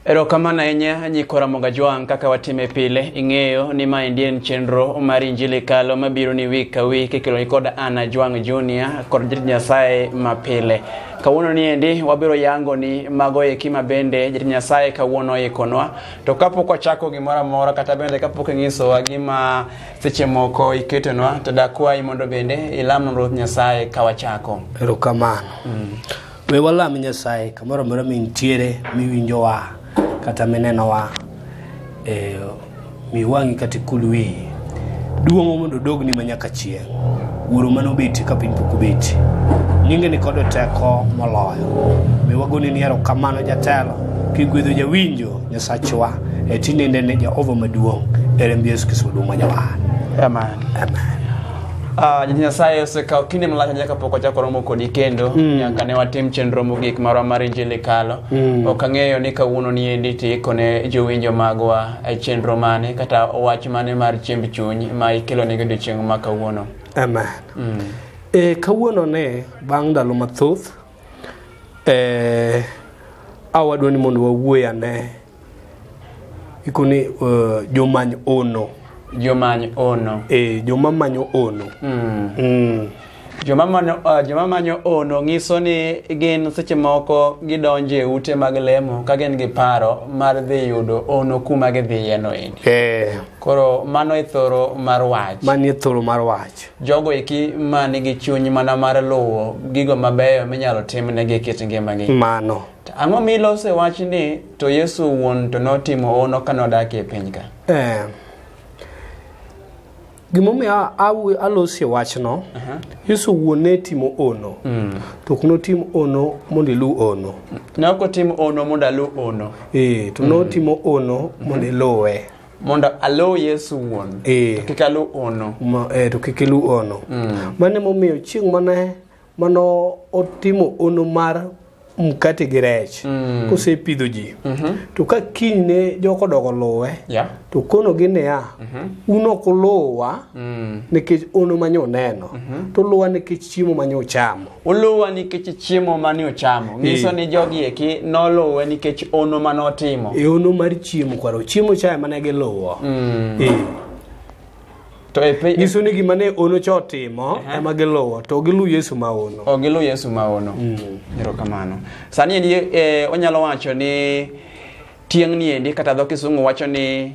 Erokamano ahinya Nyikora Mogajwang' kaka watime pile. Ing'eyo ni ma endi en chenro mar Injili Kalo mabiro ni wik ka wik ikelo kod Anna Jwang' Junior kod Jatich Nyasaye ma pile. Kawuono ni endi wabiro yango ni mago eki ma bende Jatich Nyasaye kawuono oikonwa. To kapok wachako gimoro amora kata bende kapok ing'isowa gima seche moko iketonwa to dakwayi mondo bende ilamnwa Ruoth Nyasaye ka wachako. Erokamano. Mm. We walam Nyasaye kamoro amora mintiere miwinjowa kata minenowa e, mi wang'i kata ikul wiyi duong'o mondo odogni ma nyaka chieng' wuoro mane obeti ka piny pok obeti nyinge ni kod teko moloyo mi wagoni ni erokamano jatelo kigwedho jawinjo nyasachwa e tinende ne jehova maduong' e remb yesu kristo maduong' ma jawar Amen. amen Ah, nyasaye osekawo kinde malach ahinya kapok wachako romo kodi kendo mm. nyaka ne watim chenro mogik marwa mar injili kalo mm. ok ang'eyo ni kawuono ni endi tiiko ne jowinjo magwa e chenro mane kata wach mane mar chiemb chuny ma ikelo ne godiochieng' ma kawuono amen mm. e, kawuono ne bang' ndalo mathoth e, awadwa ni mondo wawuoy ane ikoni uh, jomany ono jomany ono e joma manyo ono mm. Mm. Joma, manyo, uh, joma manyo ono ng'iso ni gin seche moko gidonjo e ute mag lemo ka gin gi paro mar dhi yudo ono kuma gidhiyeno endi e. koro mano e thoro mar wach mano e thoro mar wach jogo eki ma nigi chuny mana mar luwo gigo mabeyo minyalo timnegi e kit ngimagi mano Ang'o milose wach ni to Yesu wuon to notimo hono ka nodak e piny ka? Eh. Gimomiyo alosi wachno, Yesu wuon ne timo ono, mm. to ok notim ono mondo ilu ono. Ne ok otim ono mondo alu ono. Eh, to mm. notimo ono mondo mm-hmm. iluwe. mondo aluw yesu wuon e. to kik aluw ono e, to kik iluw ono mm. mane momiyo chieng' mane mano otimo ono mar mkate gi rech mm. kosepidho ji mm -hmm. to ka kiny ne jok odogo luwe yeah. to konogi niya mm -hmm. un ok uluwa mm. nikech ono mane uneno mm -hmm. to uluwa nikech chiemo mane uchamo uluwa nikech chiemo mane uchamo nyiso ni jogi eki noluwe nikech ono mane otimo e ono mar chiemo kwaro chiemo chaye mane giluwo mm. e. To e piny nyiso ni gima ne ono cha otimo uh -huh. ema giluwo to giluw Yesu ma ono. Oh, giluw Yesu ma ono. Mm. Erokamano. Mm. Sani endi e, onyalo wacho ni tieng' ni endi kata dho Kisungu wacho ni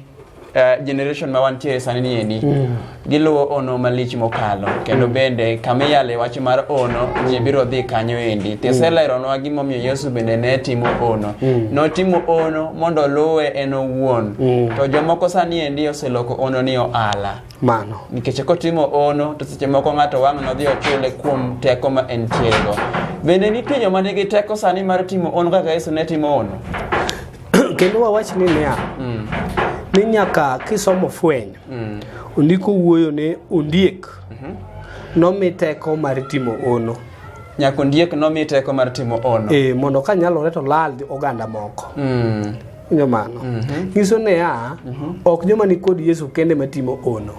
Uh, generation ma wantie sani ni endi mm. giluwo ono malich mokalo kendo mm. bende kama iyale wach mar ono ji biro dhi kanyo endi mm. tiselero nwa gimomiyo yesu bende ne timo ono mm. notimo ono mondo oluwe en owuon mm. to jomoko sani endi oseloko ono ni ohala mano nikech kotimo ono to seche moko ng'ato wang' nodhi ochule kuom teko ma en tiego bende nitie joma nigi teko sani mar timo ono kaka yesu ne timo ono kendo wawach ni niya mm. ni nyaka kisomo fweny mm. ondiko wuoyo ne ondiek mm -hmm. nomi teko mar timo ono Nyako ndiek nomi teko mar timo ono. e, mondo ka nyalore to lal oganda moko Mm. winjo mano nyiso niya ok joma ni kod yesu kende matimo ono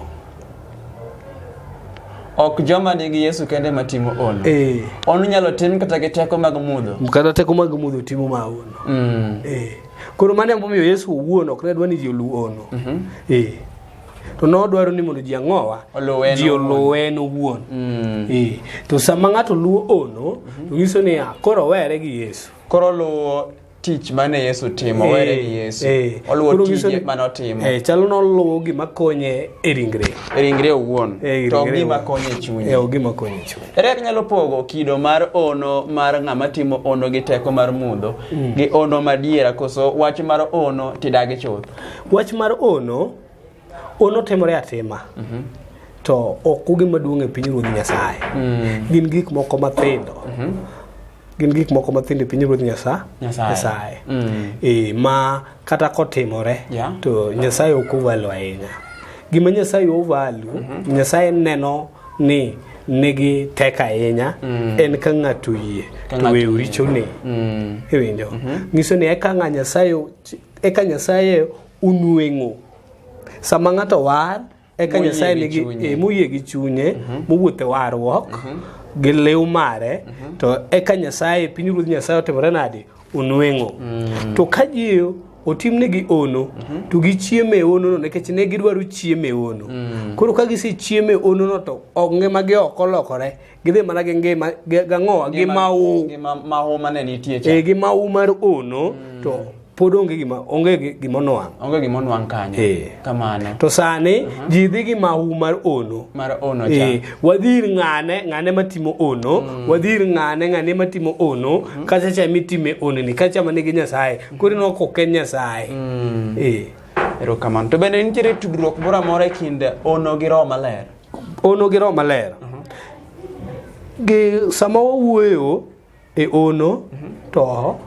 Ok joma nigi Yesu kende ma timo ono. e, Ono nyalo tim kata gi teko mag mudho. kata teko mag mudho timo ma ono Mm. e, koro mano emomiyo yesu owuon ok ne dwa ni ji olu ono e, to nodwaro ni mondo ji ang'owa Oluw en ji owuon. oluw en owuon Eh, to sama ng'ato luwo ono to nyiso niya koro owere gi yesu koro luwo tich mane yesu timo Eh, were gi yesu eh. oluwo Koro nyiso tije ni- mane otimo eh, chalo noluwo gima konye e ringre e ringre owuon Eh, e to ringre gima owuon. konye Eh, chunye o gima konye e chunye ere kaka inyalo pogo kido mar ono mar ng'ama timo ono gi teko mar mudho gi ono madiera koso wach mar ono tidagi chuth Wach mar ono, ono temore atima. Mm -hmm. To ok ugi maduong' e piny ruodh Nyasaye. Mm. Gin gik moko mathindo. Mm -hmm. Gin gik moko mathindo e piny ruodh Nyasaye. Nyasaye. Mm. E, ma kata kotimore yeah. to Nyasaye ok ovalo ahinya. Gima Nyasaye ovalo, mm -hmm. Nyasaye neno ni nigi tek ahinya mm. en ka ng'ato yie to weyo richone mm. iwinjo mm-hmm. nyiso ni eka ng'a nyasaye eka Nyasaye onweng'o. Sama ng'ato war, eka Moyie Nyasaye gi nigi chunye. e, moyie gi chunye, mowuotho e warruok gi liw mare, to eka Nyasaye, pinyruodh Nyasaye otimore nade? Onweng'o. To ka ji otimnegi ono, to gichiemo e onono nikech ne gidwaro chiemo e ono. Koro ka gisechiemo e onono to ongima gi ok olokore, gidhi mana gi ngima gi- gang'owa gi mawu Gi ma- mahu mane nitie cha. e gi mawu mar ono to pod onge gima onge gi- gima onwang' Onge gima onwang' kanyo. Eh. Kamano. to sani ji dhi gi mawu mar ono Mar ono cha. Eh, wadhi ir ng'ane ng'ane matimo ono wadhi ir ng'ane ng'ane matimo ono kacha cha mitime ono ni kacha mane gi nyasaye koro ineno ka ok en nyasaye Eh. Erokamano. To bende nitiere tudruok moro amora e kind ono gi roho maler. Ono gi Roho Maler. Gi sama wawuoyo e ono to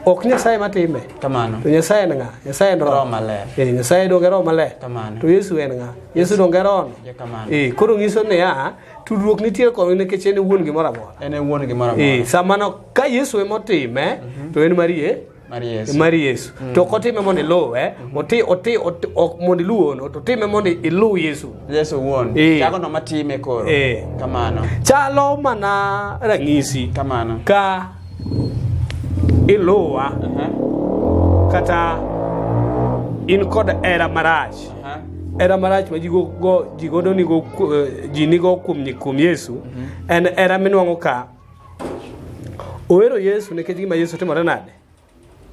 ok Nyasaye matime. Kamano. To Nyasaye en ng'a? Nyasaye en Roho. Roho Maler. Eh, Nyasaye donge Roho Maler. Kamano. To Yesu en ng'a? Yesu donge Roho. Ja kamano. Eh, koro nyiso niya, tudruok nitie kod nikech en e wuon gimoro amora. En e wuon gimoro amora. Eh, sama no, ka Yesu emotime, to en marie Mar Yesu. mar yesu to ok otime mondo iluw eh? Oti- oti- oti- ok mondo iluw ono to otime mondo iluw yesu Yesu wuon. Eh. Jago no matime koro. Eh. Kamano. chalo mana ranyisi Kamano. ka iluwa Aha. kata in kod era marach Aha. era marach ma ji go- go- ji godo nigo ku- eh, ji nigo kuom kuom yesu en era minwang'o ka Ohero Yesu nikech gima Yesu timore nade?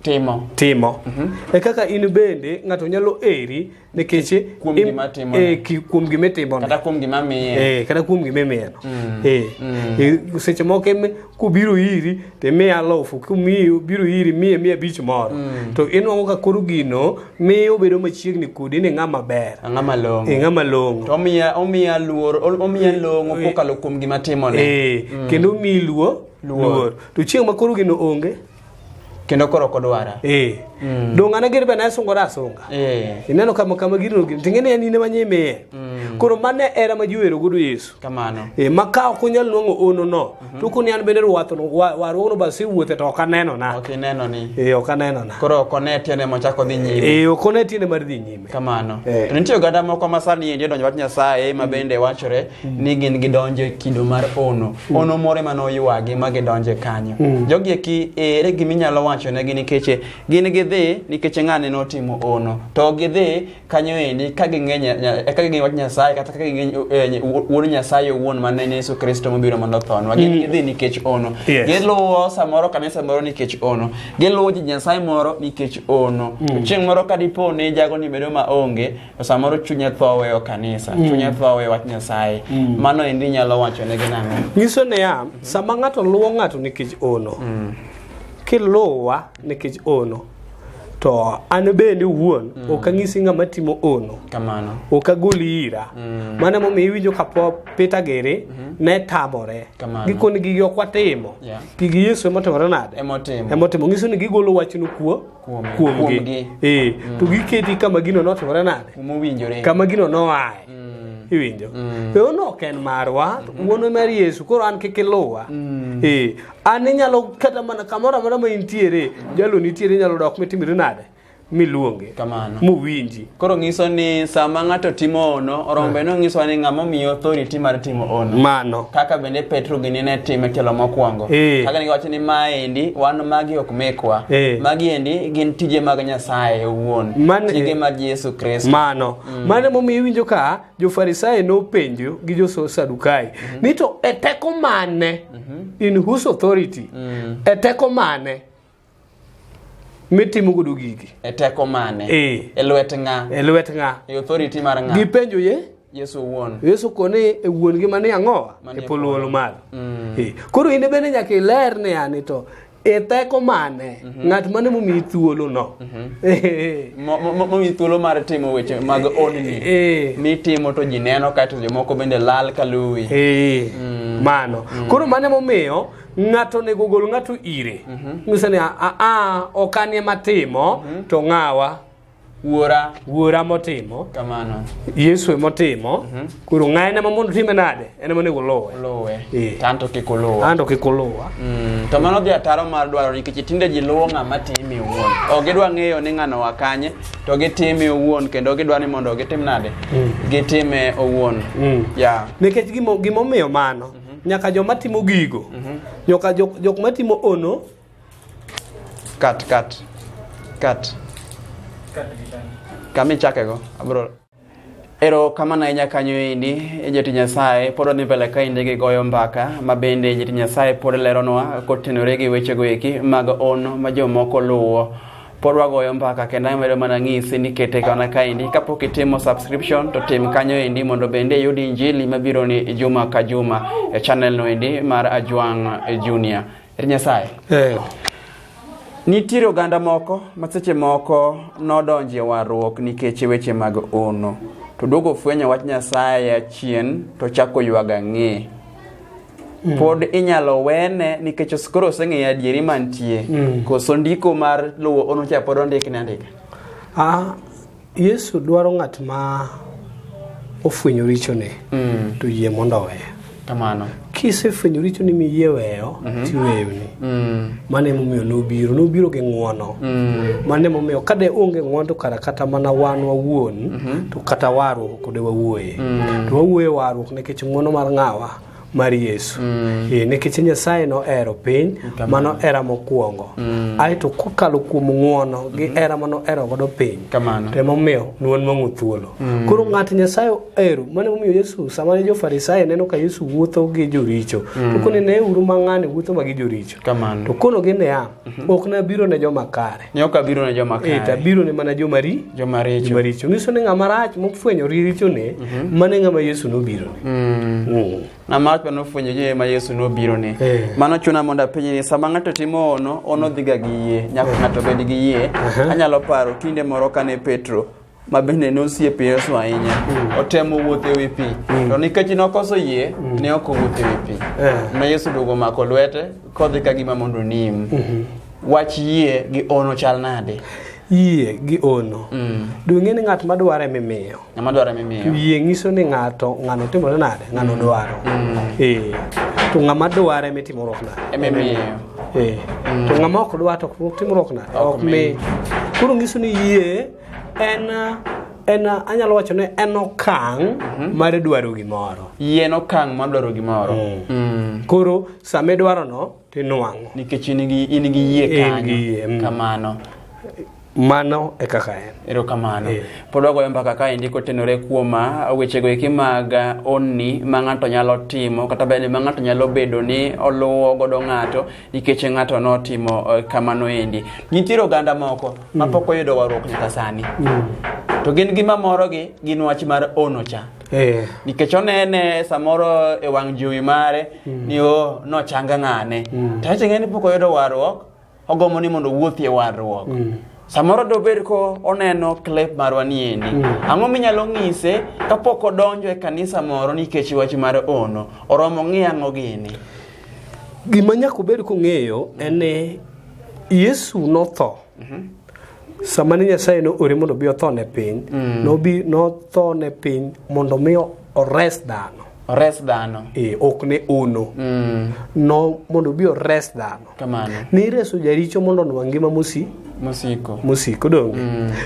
Timo. Timo. Mm -hmm. E kaka in bende ng'ato nyalo eri nikech kuom gima timo. E, ki, kuom gima itimo. Kata kuom gima miye. E, kata kuom gima imiye. Mm. E, mm. e, seche moko em kubiro iri te miya lofu, kubiro iri miye miya bich moro. Mm. To inwang'o ka koro gino miyo obedo machiegni kodi ni ng'ama ber ang'ama long'o e ng'ama long'o to omiya omiya luor o- omiya long'o kokalo kuom gima timone e kendo omiyi luo Luor. luor to chieng' ma koro gino onge kendo koro ok odwara e dong' an agere bana asungora asunga Eh. ineno kama kama gino gino ting'e ni en in ema nyimiye koro mane era ma jiwero godo yesu kamano e, ma ka ok unyal nwang'o ono no mm -hmm. to koni an bende rwathno warwono ba siwuothe to ok anenona ok inenoni e, ok anenona koro ok one tiende mochako dhi nyime e, ok one tiende mar dhi nyime kamano e. to nitie oganda moko ma sani endi odonjo wach nyasaye ma mm. bende wachore mm. ni gin gidonjo e kido mar ono mm. ono moro ema noywagi ma gidonjo e kanyo mm. jogi eki ere gima inyalo wachonegi nikech gin gidhi nikech ng'ane notimo ono to gidhi kanyo endi ka ging'e nya- nya- e ka ging'e wach nyasaye kata ka ging'e eh, ny- wuo- wuon nyasaye owuon ma ne en yesu kristo mobiro mondo othonwa gin gidhi nikech ono Yes. giluwo samoro kanisa moro nikech ono giluwo ji nyasaye moro nikech ono To chieng' moro ka dipo ni jago ni bedo ma onge to samoro chunye tho weyo kanisa chunye tho weyo wach nyasaye mano endi nyalo wachonegi nang'o nyiso niya sama ng'ato luwo ng'ato nikech ono kiluwa nikech ono to an bende wuon mm. ok ang'isi ng'ama timo ono kamano ok agoli ira mm. mano emomiyo iwinjo ka Peter Gere mm -hmm. ne tamore giko ni gigi ok watimo yeah. gigi Yesu emotimore nade emotimo ng'iso ni gigolo wachno kuo kuomgi eh, mm. to giketi kama gino notimore nade kama gino noaye mm. iwinjo mm. e ono ok en marwa mm. wuono mar yesu koro an kik iluwa mm. e an inyalo kata mana kamoro amora ma intiere jalo nitiere inyalo dok mitimri nade miluonge kamano muwinji koro nyiso ni sama ng'ato timo ono orombe no nyiso ni ng'ama omiyo authority mar timo ono mano kaka bende petro gini ne time telo mokwongo Eh. kaka ne giwacho ni maendi wan magi ok mekwa Eh. magi endi gin tije mag nyasaye owuon Man- tije eh. mag yesu kristo mano mano emomiyo iwinjo ka Jo-Farisai nopenjo gi jo-Sadukai mhm. ni to e teko mane, mhm. in whose authority, mm. e teko mane mitimo godo gigi? E teko mane? E. E lwet ng'a? E lwet ng'a? E authority mar ng'a? Gipenjo ye? Yesu wuon. Yesu kone e wuon gi mani ang'owa e polo wolo malo. Mm. E. Koro in bende nyaka iler ni ani to e teko mane mhm. ng'at mane momiyi thuolo no mhm. eh. momiyi thuolo mar timo weche mag eh, odni eh, mitimo to ji neno kaeto jomoko bende lal ka luwi mm. mano mm. koro mane momiyo ng'ato onego gol ng'ato ire mhm. ng'ise ni aa ok anie matimo to ng'awa Wuora. Wuora motimo. Kamano. Yesu e motimo. Mm -hmm. Koro ng'aye ne mamondo time nade? En ema nego lowe. Lowe. Yeah. Tanto kik olowa. Tanto kik olowa. Mm. To mano dhi ataro mar dwaro nikech tinde ji luwo ng'ama timi owuon. Ok gidwa ng'eyo ni ng'ano wakanye to gitime owuon kendo gidwa ni mondo gitim nade? Mm. Gitime owuon. Mm. Yeah. Nikech gimomiyo mano. Mm -hmm. Nyaka joma timo gigo. Mm -hmm. Nyaka jok, jok matimo ono kat kat kat kama ichakego abro ero kamano ahinya kanyo endi joti nyasaye pod wadhi mbele ka inde gi goyo mbaka ma bende joti nyasaye pod leronwa kotenore gi wechego eki mag on ma jomoko luwo pod wagoyo mbaka kendo amedo mana ng'isi ni kete kana kaendi kapok itimo subscription to tim kanyo endi mondo bende iyud injili mabironi juma ka juma e channel no endi mar ajwang junior Er Nyasaye. Eh. Nitiere oganda moko ma seche moko nodonjo e warruok nikech weche mag ono. To duogo fwenyo wach Nyasaye achien to chako ywag ang'e. Mm. Pod inyalo wene nikech os- koro oseng'eyo adieri mantie. Mm. Koso ndiko mar luwo ono cha pod ondikne andika. Ah, Yesu dwaro ng'at ma ofwenyo richone mm. to yie mondo oweye. Kamano. Kisefwenyo richoni miyie weyo mm -hmm. tiweyoni. Mm. Mano emomiyo nobiro, nobiro gi ng'wono. Mm. Mano emomiyo ka de onge ng'wono to kara kata mana wan wawuon mm -hmm. to kata warruok kode wawuoye. Mm. To wawuoye warruok nikech ng'wono mar ng'awa. mar yesu mm. e, nikech nyasaye nohero piny mano era mokwongo mm. aeto kokalo kuom ng'uono gi mm-hmm. era mano era godo piny temomiyo nuon mang'u thuolo mm. koro ng'at nyasaye ohero mane momiyo yesu sama ne jofarisayo neno ka yesu wuotho gi joricho mm. tokone ne uru mang'ani wuotho ma gi joricho to konogi niya mm-hmm. ok nabiro ne joma kare Ne ok abiro ne joma kare. Eh, tabiro ne mana joma ri joma richo. Joma richo. Nyiso ni ng'ama rach mofwenyo richo ne mm -hmm. mane ng'ama Yesu nobiro ne. Mm. Mm. Ng'ama rach mane ofwenyo je ma Yesu nobiro ne. Eh. Mano chuna mondo apenje ni sama ng'ato timo ono, ono dhiga gi yie. Nyaka eh. ng'ato bed gi yie. Uh -huh. Anyalo paro kinde moro kane Petro ma bende ne osiep Yesu ahinya mm. otemo wuotho e wi pi mm. to nikech nokoso yie mm. ne ok owuotho e wi pi eh. ma Yesu duogo omako lwete kodhi ka gima mondo onim mm-hmm. wach yie gi ono chal nade yie gi ono mm. dung'e ni ng'at ma dware mimiyo ng'ama dware mimiyo yie nyiso ni ng'ato ng'ano timore nade ng'ano mm. dwaro mm. ee eh. to ng'ama dware mitimruok nade emimiyo ee eh. mm. to ng'ama ok dwar to timruok nade ok mi koro nyiso ni yie en en anyalo wacho ni en okang' mhm. mar dwaro gimoro yien okang' mar dwaro gimoro mm. Mm. koro sama idwaro no tinwang'o nikech in gi in gi yie kanyo mm. kamano mano e kaka en erokamano yeah. pod wagoyo mbaka ka endi kotenore kuom ah, wechego eki mag ah, onni ma ng'ato nyalo timo kata bende ma ng'ato nyalo bedo ni oluwo godo ng'ato nikech ng'ato notimo eh, kamano endi nitiere oganda moko ma pok oyudo warruok nyaka sani to gin gima morogi gin wach mar ono cha Eh, nikech onene samoro e wang' jowi mare ni o nochanga ng'ane to ache ng'e ni pok oyudo warruok ogombo ni mondo owuothi e warruok samoro dobed ko oneno klep marwa niendi ang'o minyalo ng'ise kapok odonjo e kanisa moro nikech wach mar ono oromo ng'i ang'o gini gima nyaka obed kong'eyo en ni Yesu notho. Sama ne Nyasaye ne ore mondo obi otho ne piny, nobi notho ne piny mondo mi ores dhano. Ores dhano. E, ok ne ono. Mm. No mondo obi ores dhano. Kamano. Ne ireso jaricho mondo onwa ngima mosi Mosiko. mosiko donge.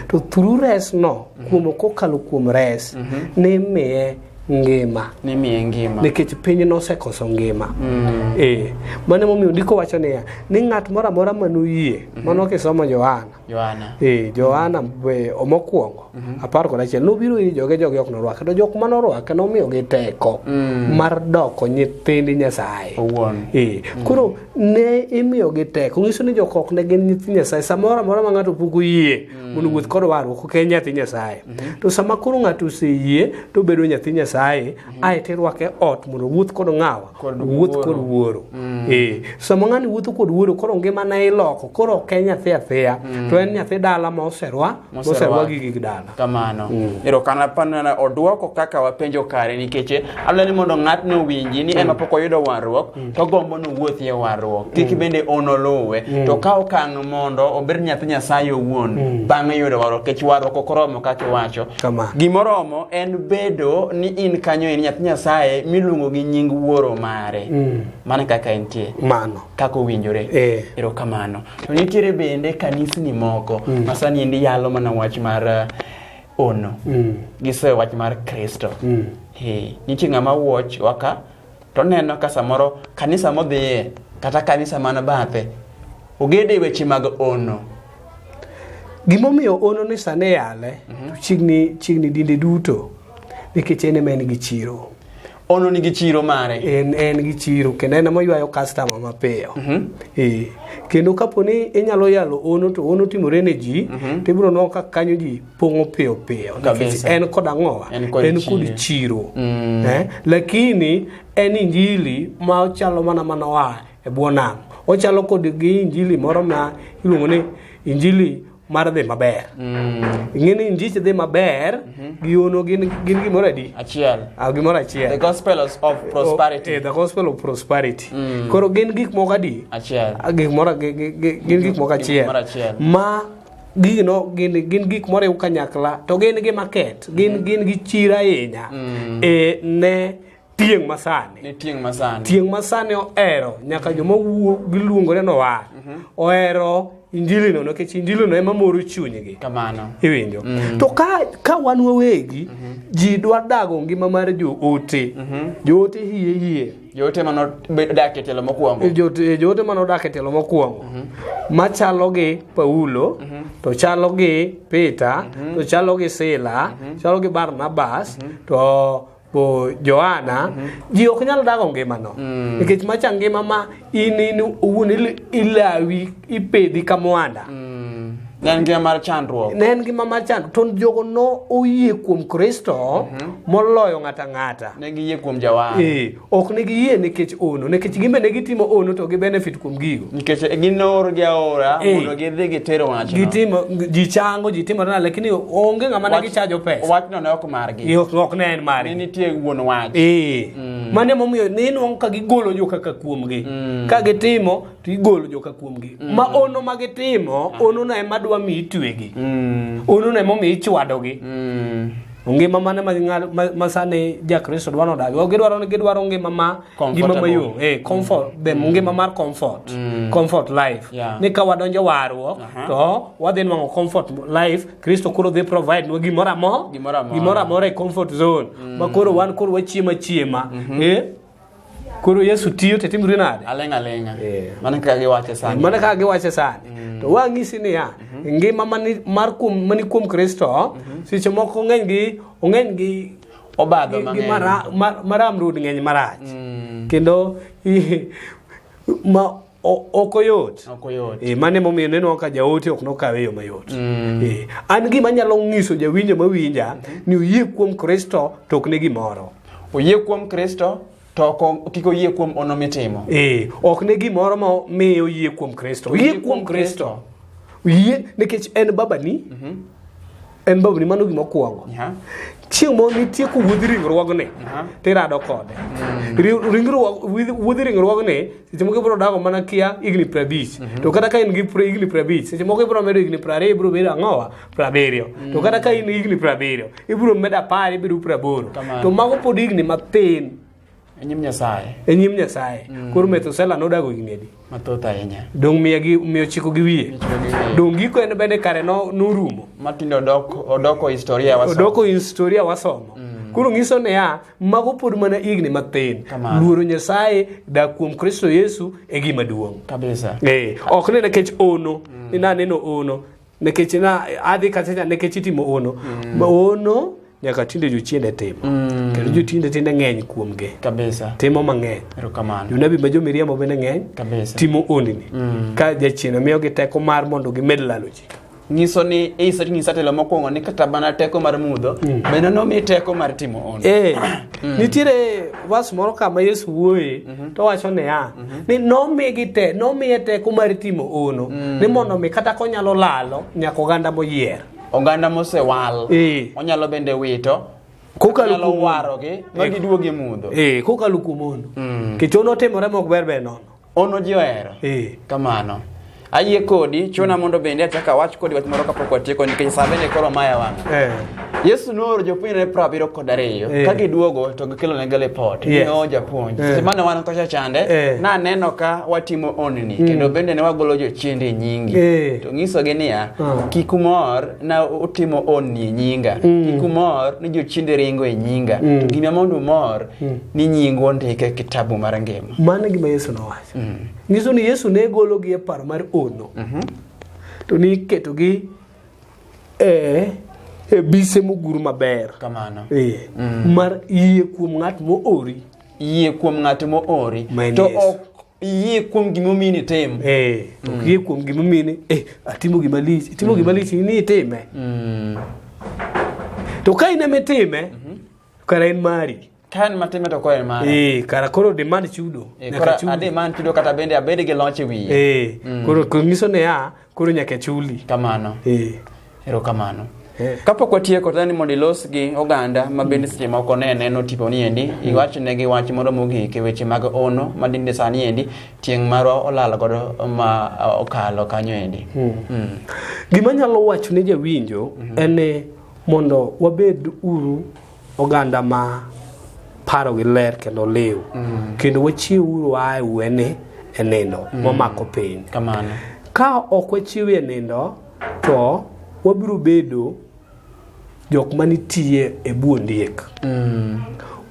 To through res no, kuom kokalo kuom res, ne imiye ngima nimiye ngima nikech piny nosekoso ngima mm. e mano emomiyo ndiko wacho niya ni ng'at moro amora manoyie mm -hmm. mano kisomo johana johana e johana mm -hmm. mokwongo mm -hmm. apar kod achiel nobiro ir joge joge ok norwake to jok manorwake nomiyogi teko mm. mar doko nyithind nyasaye owuon e mm. koro ne imiyogi teko ng'iso ni jok ok ne gin nyithind nyasaye samoro amora ma ng'ato pok oyie mondo wuoth kod warruok ok en nyathi nyasaye to sama koro ng'ato oseyie to obedo nyathi nyasaye ae to irwake ot mondo wuoth kod ng'awa Kod wuoth kod wuoro ee sama ng'ani wuotho kod wuoro koro ngimane iloko koro ok en nyathi athiya to en nyathi dala ma oserwa Moserwa. moserwa gi gig dala kamano erokamano odwoko kaka wapenjo kare nikech adwaro ni mondo ng'atno owinji ni en mapok oyudo warruok to gombo ni owuothi e warruok kik bende un oluwe to ka okang' mondo obed nyathi nyasaye owuon bang'e yudo warruok kech warruok ok oromo kaka iwacho Kama. gimoromo en bedo ni in kanyo in nyathi nyasaye miluongo gi nying wuoro mare mana kaka entie mano kaka owinjore Eh. erokamano to nitiere bende kanisni moko ma sani endi yalo mana wach mar eh, ono gisoyo wach mar kristo Eh, nitie ng'ama watch waka to neno ka samoro kanisa modhiye kata kanisa man bathe ogede weche mag ono gimomiyo ono ni sane yale mm -hmm. chigni chigni dinde duto nikech en ema en gi chiro ono nigi chiro mare en en gi chiro kendo en moywayo customer mapiyo mm -hmm. e, kendo kapo ni inyalo yalo ono to ono timore ne ji mm -hmm. to ibiro nwa ka kanyo ji pong'o piyo piyo nikech Kabisa. en kod ang'owa En kod en kod chiro. chiro Mm. eh? lakini en injili ma ochalo mana mana oa e bwo nam ochalo kod gi injili moro ma iluongo ni injili mar dhi maber Mm. ing'e ni injich dhi maber gi ono gin gin gimoro adi Achiel. Ah, gimoro The achiel gospel of of Eh, prosperity. the gospel of prosperity koro gin gik moko adi Achiel. Ah, gik moro gi- gi- gi- gin gik moko achiel moro achiel. ma gino gin gin gik moriw kanyakla to gin gi market gin mm. gin gi chiro ahinya mm. e ne tieng' masani ne tieng' masani tieng' masani ohero nyaka joma wuo giluongore no wa mm-hmm. ohero injili no nikech injili no ema moro chunygi kamano iwinjo mm. to ka ka wan wawegi mm -hmm. ji dwa dago ngima mar joote mm -hmm. joote hie hie Joote ma nodak e tielo mokwongo. Joote, joote ma nodak e tielo mokwongo. Mm -hmm. Machalo gi Paulo, mm -hmm. to chalo gi Peter, mm -hmm. to chalo gi Sila, mm -hmm. chalo gi Barnabas, mm -hmm. to bo Johana, mm -hmm. ji ok nyal dago ngimano. Mm. Nikech macha ngima ma in in uwuon ilawi ipedhi ka mwanda mm. ne en ngima mar chandruok ne en ngima mar chandruok to jogo no oyie kuom kristo mm -hmm. moloyo ng'ata ng'ata ne giyie kuom jawar e, ok ne giyie nikech ono nikech gimbe ne gitimo ono to gi benefit kuom gigo nikech e, ginoor gi aora e, mondo gidhi gitero wachno gitimo ji chango ji timo na lakini onge ng'ama ne gichajo pesa wachno ne ok margi e, ok ne en margi ne nitie wuon wach e. mm. mane momiyo ne inwang'o ka gigolo joka ka kuomgi mm. ka gitimo to igolo joka kuomgi mm. ma ono ma gitimo ah. ono na ema dwa mi itwegi mm. ono na ema omiyo ichwadogi mm. ngima mane ma gingal ma sani ja kristo dwa nodag ok gidwaro ni gidwaro ngima ma ngima ma yo eh comfort mm. them mm. ngima mar comfort mm. comfort life yeah. ni ka wadonjo warruok uh -huh. to wadhi nwango comfort life kristo koro dhi provide nwa gimoro amora gimoro amora e comfort zone mm. ma koro wan koro wachiema chiema mm -hmm. eh koro yesu tiyo to itimri nade aling' aling'a Eh. mana kaka giwache sani mana kaka giwache sani to wang'isi niya ngima mani- mar kuom- mani kuom kristo seche moko ong'eny gi ong'eny gi obadho gi- gi mang'eny mara- ma- maram rud ng'eny marach kendo i- ma O- ok oyot Ok oyot. Eh, mano emomiyo nenwa ka jaote ok nokawe e yo mayot Eh, an gima nyalo nyiso jawinjo mawinja ni oyie kuom kristo to ok ne gimoro Oyie kuom Kristo to ok o- kik oyie kuom hono mitimo. Eh, ok ne gimoro ma miyo oyie kuom kristo oyie kuom kristo oyie nikech en babani en bawoni mano gima okuongo Yeah. chieng' moro nitie kowuodh ringruogni Aha. to irado kode Ri- ringruog- wuodh- wuodh ringruogni seche moko ibiro dago mana kia higni prabich to kata ka in gi pra- higni prabich seche moko ibiro medo higni prariyo ibiro bedo ang'owa prabiriyo to kata ka in higni prabiriyo ibiro medo apar ibiro praboro Kamano. to mago pod higni mathin E nyim Nyasaye. e nyim nyasaye koro methusela nodago higni adi Mathoth ahinya. dong' miya gi miyo chiko gi wiye Chiko gi wiye. dong' giko en bende kare no- norumo Matindo odok odoko historia waso. odoko historia wasomo koro ng'iso niya mago pod mana higni mathin Kamano. luoro nyasaye dak kuom kristo yesu e gima duong' Kabisa. Eh, ok ni nikech ono ni naneno ono nikech na adhi kacha nikech itimo hono mm. ma hono nyaka tinde jochiende timo mm. kendo jotiende tinde ng'eny kuomgi kabisa timo mang'eny erokamano jonabi ma jomiriambo bende ng'eny kabisa timo ondini mm. ka jachiende miyogi teko mar mondo gimed lalo ji nyiso ni iso nyisa telo mokwongo ni kata mana teko mar mudho mm. bende nomi teko mar timo ono eh, mm. nitiere vas moro kama yesu wuoye Mhm. to wacho niya mhm. ni nomigi te nomiye teko mar timo ono mm. ni mondo mi kata konyalo lalo nyaka oganda moyier oganda mosewal e. onyalo bende wito kokalo kuom warogi ma e. giduog e mudho e kokalo kuom ono mm. kichono timore mok ber ber nono ono ji ohero e. kamano Ayie kodi, chuna mondo bende achak awach kodi wach moro kapok watieko nikech sa bende koro maya wang'. Eh. Yesu nooro jopuonjre piero abiriyo kod ariyo Eh. ka giduogo to gikelonega lipot Yes. ging'owo japuonj Eh. seche mane wan kocha chande Eh. naneno ka watimo onni kendo bende ne wagolo jochiende e nyingi Eh. to ng'isogi niya Mm. kik umor na utimo onni e nyinga kik umor ni jochiende ringo e nyinga to gima mondo umor ni nyingu ondike e kitabu mar ngima Mano e gima Yesu nowacho. nyiso ni Yesu ne gologi e paro mar ono mhm. to ni iketogi e e bise mogur maber kamano e, mm. mar yie kuom ng'at moori yie kuom ng'at moori to ok iyie kuom gimomiyi ni tim e, ok mm. yie kuom gimomiyi ni e, atimo gima lich itimo gima mm. lich ni itime to ka in emitime mhm. kara en mari Ka en matime to koro en mara. Eh, kara koro demand chudo. Eh, nyaka koro chuli. ade man chudo kata bende abed gi loch e wiye. Eh, Mm. koro koro nyiso ne ya, koro nyaka chuli. Kamano. Eh. Erokamano. Eh. Kapok watieko to ni mondo ilos gi oganda ma bende seche moko ne neno tipo ni endi, iwach negi wach moro mogik e weche mag ono ma dinde sani endi tieng' marwa olal godo ma ah, okalo kanyo endi. Mm. Gima nyalo wacho ne jawinjo en ni mondo wabed uru oganda ma parogi ler kendo liw mm. kendo wachiwuru ae wene e nindo mm. momako piny ka ok wachiwe e nindo to wabiro bedo jok manitiye e bu ondiek mm.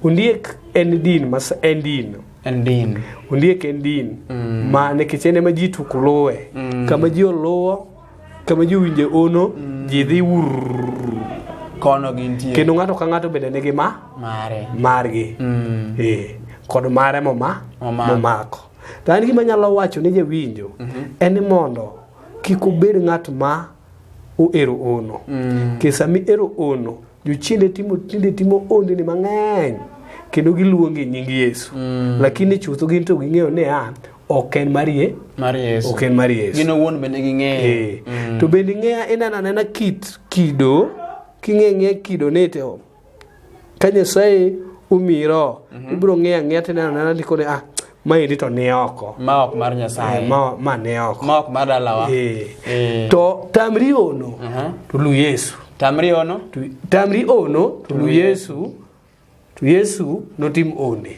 ondiek en din mas en din en din ondiek en din mm. ma nikech en ema ji tuk luwe mm. kama ji oluwo kama ji owinje ono mm. ji dhi kono gintie kendo ng'ato ka ng'ato bende nigi ma mare margi mm. eh, kod mare moma momako to an gima nyalo wacho ni jawinjo mm -hmm. en ni mondo kik obed ng'at ma ohero ono mm. kech sama ihero ono jochiende timo tinde timo ondeni mang'eny kendo giluonge nying yesu mm. lakini chutho gin to ging'eyo ni a ok en mar ye mar yesu ok en mar yesu gin owuon bende ging'eyo Eh, to bende ing'eya ineno anena kit kido king'e ng'e kido nite o ka nyasaye omiyi roho ibiro ng'eyo ang'eya tineno anena likone ah maendi to ni oko ma ok mar Eh, nyasaye ma ma ni oko ma ok mar dalawa Eh. Eh. to tamri ono Aha. to lu yesu tamri ono Tu- tamri ono to lu yesu To Yesu notim onde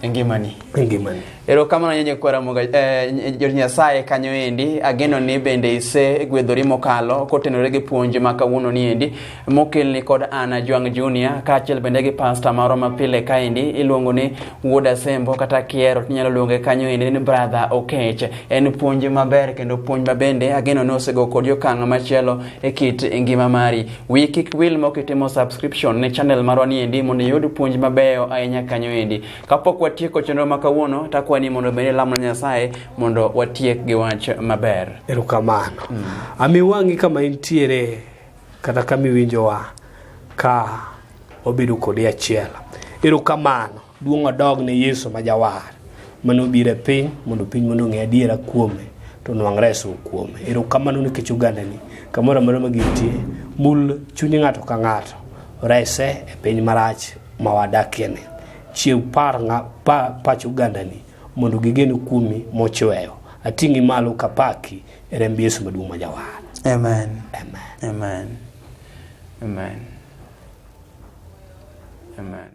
e ngimani e ngimani. erokamano nyenye kwara moga eh, jor nyasaye kanyo endi ageno ni bende ise gwedhori mokalo kotenore gi puonj ma kawuono ni endi mokelni kod ana jwang junior kaachiel bende gi pasta marwa ma pile kaendi iluongo ni wuod asembo kata kiero tinyalo luonge kanyo endi ni brother okech en puonj maber kendo puonj ma bende ageno ni osego kod okang' machielo e kit ngima mari Wiyi kik wil mok itimo subscription ne channel marwa ni endi mondo iyud puonj mabeyo ahinya kanyo endi. Kapok watieko chenro ma kawuono, takwani ni mondo bende lamo Nyasaye mondo watiek gi wach maber. Erokamano. Mm. Ami wang'i kama intiere kata kama iwinjowa ka wabedo kodi achiel. Erokamano. duong' odog ne yesu ma jawar mane obiro e piny mondo piny mondo ong'e adiera kuome to nwang' reso kuome erokamano nikech ogandani kamoro amora ma gintie mul chuny ng'ato ka ng'ato rese e piny marach ma wadakieni chiew par ng'a- pa- pach ogandani mondo gigen kuomi mochweyo ating'i malo kapaki e remb yesu maduong' ma jawar Amen. amen Amen. Amen. Amen.